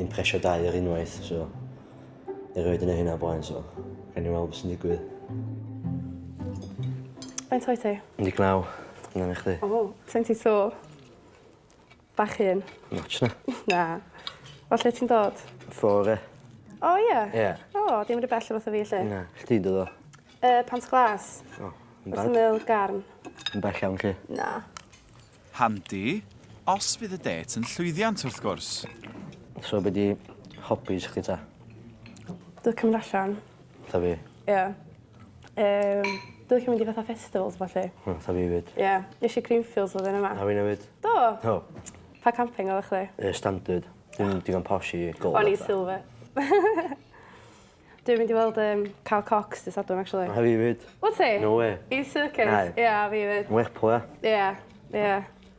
impresio dau ar unwaith, so erioed yn ei hynna blaen, so rhaid ni weld beth sy'n digwydd. Faint oed ti? 19. Yna i chdi. O, 22. Bach un. Notch na. na. O, lle ti'n dod? Fore. O, ie? Yeah. Ie. Yeah. O, oh, dim yn y bell o fath o fi, lle? Na, chdi dod o? Uh, pant glas. O, yn bad. Wrth ymyl garn. Yn bell iawn, lle? Na. Handi, os fydd y dêt yn llwyddiant, wrth gwrs. So be di hobbies chdi ta? Dwi licio mynd allan. Fatha fi? Ie. Yym, dwi licio mynd i fatha festivals a ballu. O, fatha fi 'fyd. Ie. Nesh i Greenfields flwyddyn yma. A finne 'fyd. Do? Do. Pa camping odda chdi? Yy standard. Dim digon posh i ga'l fatha... O'n i silver. Dwi'n mynd i weld yym Carl Cox dy' Sadwrn actually. A fi 'fyd. Wt ti? No wê. I circus? Nage. Ie a fi 'fyd. Lerpwl ia? Ie ie.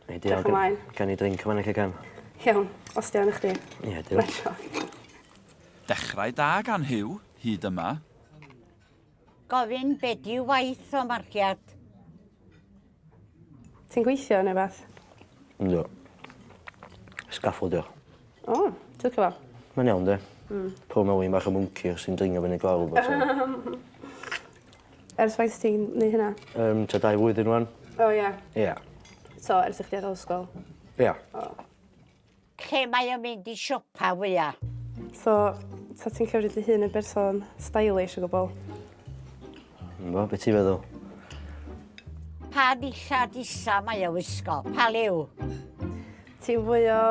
Nei di organ- ymlaen. Gawn ni drinc yn fan 'na lle gawn? Iawn, os 'di o yn i chdi. Ie duw. Neis one. Dechrau da gan Huw, hyd yma. Gofyn be 'dyw waith o marciad? Ti'n gweithio ne' wbath? Yndw. Sgaffaldio. O! Twtiwr tha. Mae'n iawn 'de? Hmm. Pob mawn i bach o mwnci os ti'n dringo fyny glaw bob tro. Ers faint ti'n neu' hynna? Yym tua dau flwyddyn rŵan. O ia? Ia. So ers i chdi adal ysgol? Ia. O. Lle mae o'n mynd i siopa fwya? So, ta ti'n cymryd dy hun yn berson stylish o gwbl? Bo, be ti'n feddwl? Pa ddillad isa mae o wisgo? Pa liw? Ti'n fwy o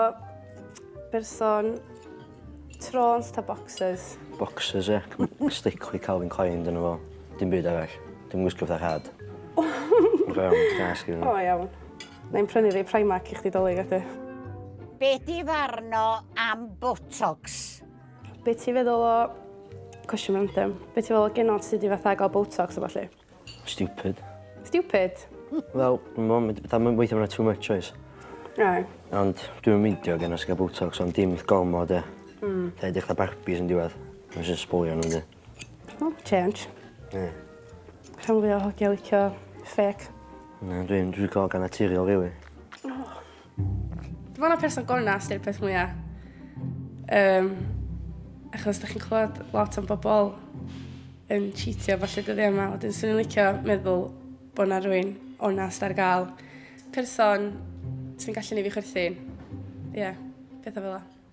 berson trôns ta boxers? Boxers, ie. Yeah. Stick with Calvin Klein, dyna fo. Dim byd arall. Dim wisgo fatha rhad. Rhawn, gas, gyda. O, iawn. Wna i'm prynu rei Primark i chdi dolig a dy. Be di farn o am botox? Be ti feddwl o... Cwestiwn random. Be ti feddwl o genod sydd di fatha gael botox a ballu? Stupid. Stupid? Wel, mom, fatha mae'n weithio mae'n too much oes. Ai. Ond dwi'n meindio gen os gael botox ond dim gormod e. Mm. Dda edrych fatha Barbies yn diwedd. Mae'n just sbwylio nhw yndi? O change. Ie. Rhan fwya o hogia licio ffêc. Na dwi'n dwi lico hogan naturiol rili. Dwi me'wl na person gonast yw'r peth mwya yym achos 'dach chi'n clywed lot am bobol yn cheatio a ballu dyddia' 'ma wedyn swn i'n licio meddwl bo' 'na rywun onast ar ga'l. Person sy'n gallu neu' fi chwerthin. Ie. Petha fel 'a.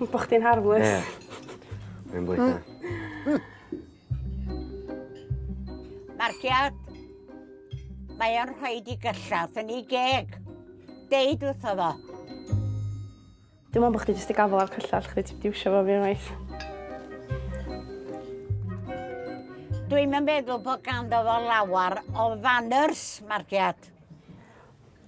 Bo' chdi'n harmless. Ie. Rwy'n bwyta. Marcia! Mae o'n rhoi di gyllawth yn ei geg. Deud wrtho fo. Dwi'n meddwl bod chdi jyst i gafel ar cyllell chdi, ti'n diwsio fo fi unwaith. Dwi'n meddwl bod ganddo fo lawer o fanners, Marciad.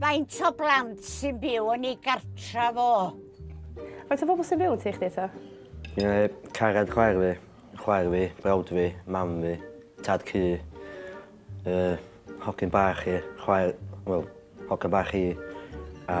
Faint o blant sy'n byw yn ei gartra fo? Faint o bobl sy'n byw yn teich ddeitha? Ie, cared chwaer fi, chwaer fi, brawd fi, mam fi, tad cu, uh, hogyn bach i, chwaer, wel, hogyn bach i, a